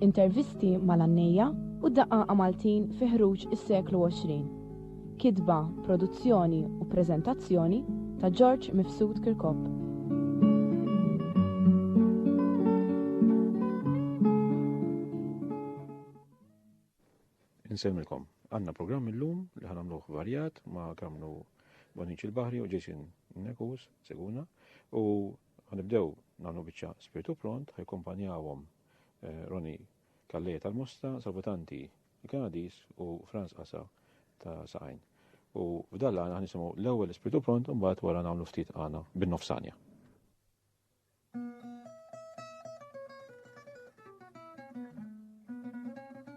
Intervisti mal-għannejja u daqaqa Maltin fi ħruġ is-seklu 20. Kitba, produzzjoni u preżentazzjoni ta' George Mifsud Kirkop. Insemmilkom, għanna programm illum li ħanamluħ varjat ma' kamnu Bonin il-Bahri u Jason Nekus, seguna, u ħanibdew nagħmlu biċċa spiritu pront, ħajkompanjawhom eh, Roni Kalleja tal-Mosta, Salvutanti il-Kanadis u Franz Asa ta' Saqajn. U f'dalla għana ħanisimgħu l-ewwel ispirtu pront u mbagħad wara nagħmlu ftit għana bin-nofsanja.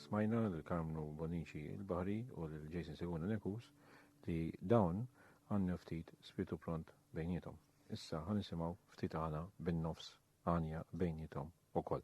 Smajna lil Karmnu Bonnici il-Bahri u lil Jason Seguna Nekus li dawn għandnu ftit spirtu pront bejniethom. Issa ħa nisimgħu ftit għana bin-nofs għanja bejniethom ukoll.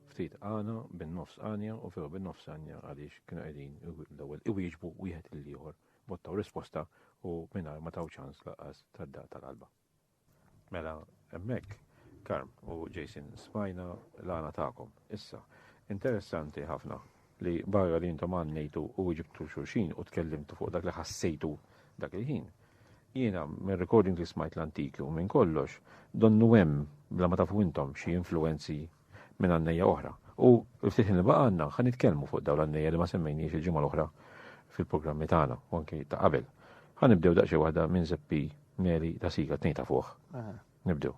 ftit għana, bin-nofs għanja u veru bin-nofs għanja għaliex kienu qegħdin l-ewwel iwieġbu wieħed lil ieħor mod taw risposta u mingħajr ma taw ċans laqas tad-daq tal-qalba. Mela, hemmhekk Karm u Jason smajna l-għana tagħkom. Issa, interessanti ħafna li barra li intom għannejtu u ġibtu xurxin u tkellimtu fuq dak li ħassejtu dak il-ħin. Jiena, minn recording li smajt l-antiki u minn kollox, donnu hemm bla ma tafu intom xi influenzi minn għannejja oħra. U ftit li baqa' għandna ħan nitkellmu fuq dawn l-għannejja li ma semmejniex il-ġimgħa l-oħra fil-programmi tagħna u anki ta' qabel. Ħan nibdew daqsxi waħda minn Zeppi Meli ta' Sika tnejn ta' fuq. Nibdew.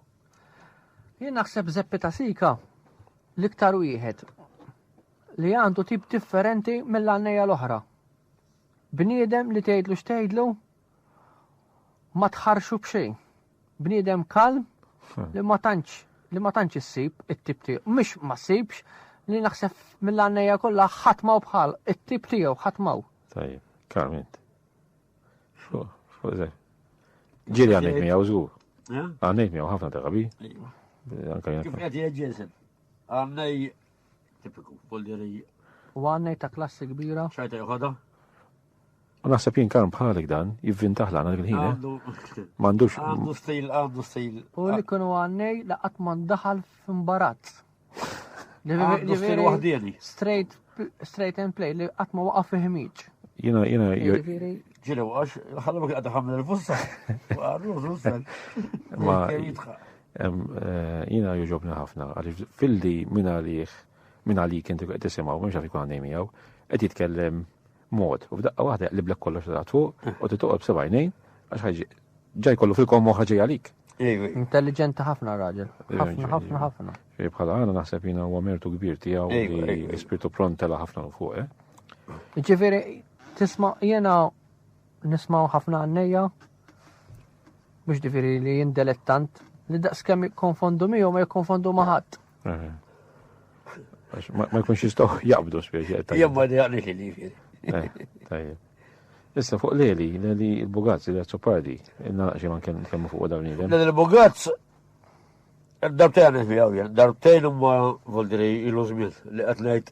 Jien naħseb Zeppi ta' Sika l-iktar wieħed li għandu tip differenti mill-għannejja l-oħra. Bniedem li tgħidlu x'tgħidlu ma tħarxu b'xejn. Bniedem kalm hmm. li ma tantx li ma tantx issib it-tip tiegħu, mhux ma ssibx li naħseb mill-għannejja kollha ħatmaw bħal it-tip tiegħu ħatmaw. Tajjeb, kalm int. Ġieli għandek miegħu żgur. Eh? Għandek miegħu ħafna drabi. Anka jien. Kif qed jiġġiesel? Għandej Tipiku, polderi. U għannej ta' klassi kbira. ċajta joħodha. U naħseb jien karm bħalik dan, jivvintaħ l-għana l-ħin. Eh? Mandux. Għandu stil, għandu stil. U li kunu għannej laqat man daħal f'imbarazz. Għandu stil wahdini. Straight, straight and play, li għatma waqaf fihmiċ. Jina, jina, ġilu għax, ħallu għadda ħamil il-fussa. Għarru, Ma, Jina juġobni ħafna, għalix filli minn għalih, minn għalik inti għed tisimaw, minn xafi għanni miegħu, għed jitkellem mod, u f'daqqa waħda li blek kollox ta' fuq, u titoqob sebajnejn, għax ħagġi ġaj kollu fil-kom moħħa ġej għalik. Intelligenti ħafna raġel. ħafna, ħafna, ħafna. Bħala għana naħseb jina u għamirtu kbir tijaw li spirtu prontela ħafna u fuq, eh? Ġifiri, tisma jena Nismaw ħafna għannejja mhux ġifieri li jindelet tant li daqs kemm jikkonfondu miegħu ma jikkonfondu ma' ħadd. Eh. Ma jkunx jistgħu jaqbdu spiex. Jemma li għalli xili. Eh, tajjeb. Issa fuq Leli, Leli il-Bugazz, il Azzopardi, inna xie man kemmu fuq dawn il Leli il-Bugazz, darbtejn għan fi għawjen, darbtejn umma voldiri il-użmiet li għatnejt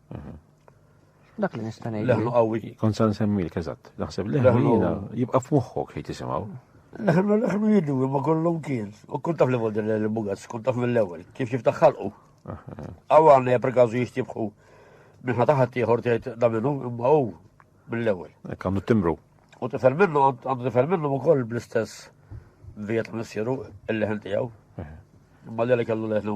Dak li nista' ngħid. Leħnu qawwi. Kont sa nsemmilk eżatt. Naħseb leħnu jibqa' f'moħħok ħejt isimgħu. Leħnu leħnu jidu ma kollhom kien. U kont taf li vodi l-bugas, kont taf mill-ewwel, kif kif taħħalqu. Aw għandna per każu jixtibħu minħa taħat ieħor tgħid da minnu imma hu mill-ewwel. Hekk għandu timbru. U tifel minnu għandu tifel minnu wkoll bl-istess vijet missieru il-leħen tiegħu. Imma li kellu leħnu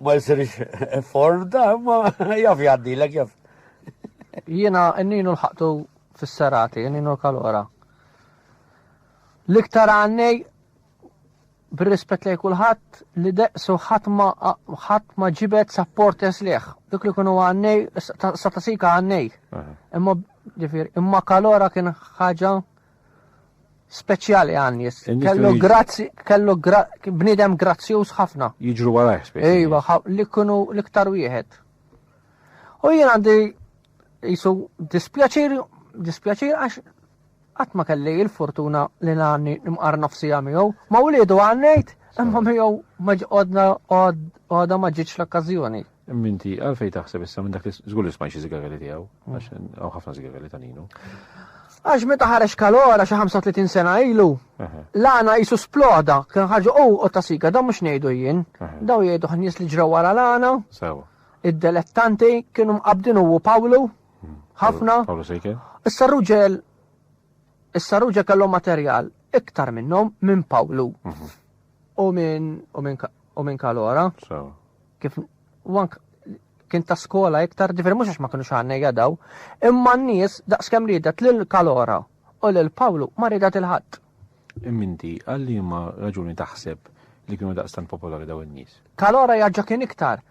Ma jsirx form da, ma jaf jgħaddilek jaf. Jiena nninu l-ħaqtu fis-serati, nninu l-kalora. L-iktar għannej bir-rispett lej kulħadd li deqsu ħadd ma ġibet sapport esliħ. Dik li kunu għannej, satasika għannej. Imma ġifir, imma kalora kien ħaġa speċjali għan nies. Kellu grazzi, kellu bnidem grazzjuż ħafna. Jiġru warajh speċi. Ejwa, li kunu l-iktar wieħed. U jien għandi jisu dispjaċir, dispjaċir għax qatt ma kelli il-fortuna li għanni nimqar nofsi miegħu. Ma wliedu għannejt, imma miegħu ma ġqodna għadha ma ġietx l-okkażjoni. Minti, għalfej taħseb issa minn dak li żgur li smajx iżigarelli tiegħu, mm. għax hawn ħafna żigarelli ta' ninu. Għax meta ħareġ kalora xi 35 sena ilu, l-għana jisu sploda, kien ħarġu u oh, ta' siga, daw mhux ngħidu jien, daw jgħidu ħnies li ġraw wara l-għana. Id-delettanti kienu mqabdin u Pawlu, hmm. ħafna. Pawlu sejke. Issa ruġel, issa ruġel kellhom materjal iktar minnhom minn Pawlu. Mhm. U minn u minn kalora. Kif wank kien ta' skola iktar, ġifieri mhux għax ma kinux għandna jadaw, imma n-nies daqskemm ridet lil Kalora u lil Pawlu ma ridet il-ħadd. Imminti, għal liema raġuni taħseb li kienu daqstant popolari daw in-nies? Kalora jaġġa kien iktar.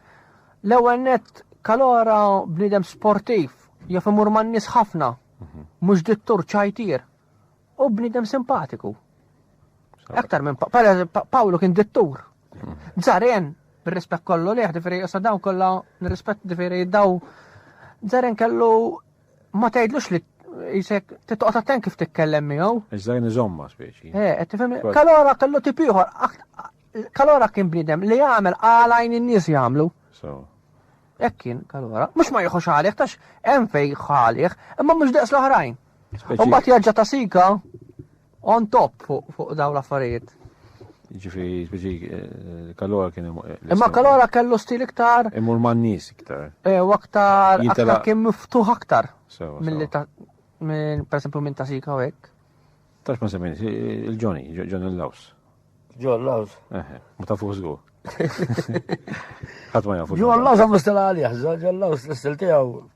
L-ewwel net Kalora bniedem sportiv, jaf imur man-nies ħafna, mhm. mhux dittur ċajtir. U bnidem simpatiku. Aktar minn Pawlu kien dittur. Zaren, bir-rispett kollu li ħdifiri, jessa dawn kollha nirrispett difiri daw. Zaren kellu ma tgħidlux li jisek titqgħod attent kif titkellem miegħu. Iżdajn iżomma speċi. Eh, qed tifhem. Kalora kellu tip ieħor. Kalora kien bnidem li jagħmel għalajn in-nies jagħmlu. Hekk kien kalora. Mhux ma jieħux għalih tax hemm fej ħalih, imma mhux daqs l-oħrajn. Mbagħad jaġġa ta' sika on top fuq dawn l-affarijiet. Ġifi, ġifi, eh, kalora kien eh, Imma kalora kellu stil iktar. Imur man nis iktar. Eh, u aktar. Jintela kien miftuħ aktar. Mill-li ta' minn per esempio minn ta' sika u hekk. Tax ma semmin, il-Johnny, John il-Laws. John Laws. Ma ta' fuq zgur. Ħadd ma jafu. John Laws għamlu stela għalih, John Laws l-istil tiegħu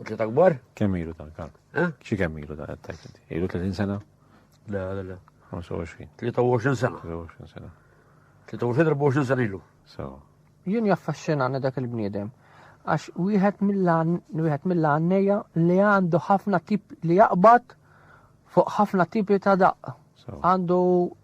Uġġet akbar? Kemm ilu dan kan? Eh? Xi kemm ilu dan qed inti? Ilu 30 sena? Le, le, le. 25. 23 sena. 23 sena. 23-24 sena ilu. So. Jien jaffaxxinani dak il-bniedem għax wieħed mill-għanneja li għandu ħafna tip li jaqbad fuq ħafna tipi ta' daqq. Għandu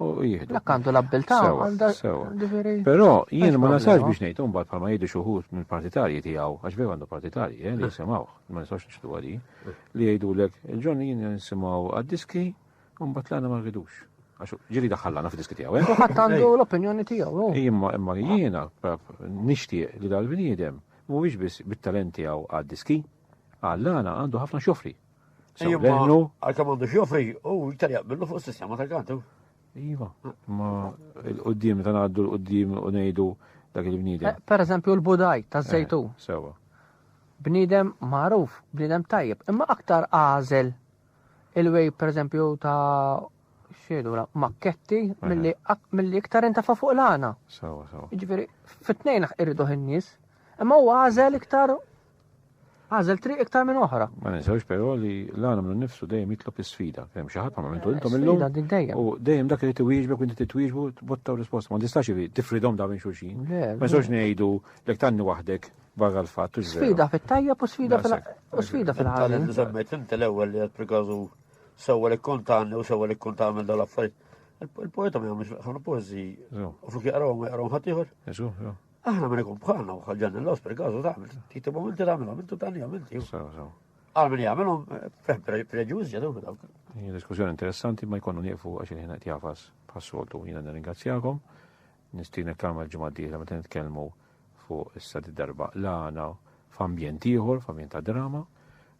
u jihdu. Dak għandu l-abbiltà għandha Però jien ma nasax biex ngħid imbagħad bħalma jgħidu xi wħud minn partitarji tiegħu għax veru għandu partitarji eh, li eh. jisimgħuh, ma nistax nixtu għadi, eh. li jgħidulek il-ġon jien nisimgħu għad-diski u mbagħad l-għana ma rridux. Għax ġiri daħallana f'diski tiegħu. U ħadd għandu l-opinjoni tiegħu. Imma imma jiena nixtieq li dal-bniedem mhuwiex biss bit-talent tiegħu għad-diski, għall-għana għandu ħafna xofri. Sewlennu. Għalka mandu xjofri, u iktar jaqbillu fuq sistema ta' kantu. Iva, ma l-qoddim ta' għaddu l-qoddim u nejdu dak il-bnidem. Eh, per eżempju l-budaj ta' zejtu. Eh, sewa. Bnidem maruf, bnidem tajjeb, imma aktar għazel il-wej per eżempju ta' xiedu la makketti eh. mill-li iktar intafa fuq l-għana. Sewa, sewa. Ġifiri, fit-tnejn irridu ħin-nies, imma u għazel iktar Għażel triq iktar minn oħra. Ma ninsewx però li l-għana minn nifsu dejjem jitlob is-sfida. Kemm xi ħadd ma għamiltu intom illum. U dejjem dak li tiwieġbek u inti titwieġbu tbottaw risposta. Ma tistax tifridhom da minn xulxin. Ma nistax ngħidu lek tanni waħdek barra l-fatt. Sfida fit-tajjeb u sfida fil-ħajja. Semmejt inti l-ewwel li qed prikażu sewwa li kontanni u sewwa li kontanni dal-affarijiet. Il-poeta ma jagħmilx ħafna poeżi. U flok jaqrawhom ma jaqrawhom ħadd ieħor. Aħna minn ikun bħalna u ħagġan l-los per kazu taħmel, titi moment taħmelom, intu tani għamil, għal minn jgħamilom, fem preġuż ġadu minn dawk. Diskussjoni interessanti ma jkunu nieqfu għax il-ħin qed jafas bħas-soltu jiena nirringrazzjakom. Nistinek tagħmel ġimgħa d-dieħla meta nitkellmu fuq issa darba l-għana f'ambjent ieħor, f'ambjent ta' drama.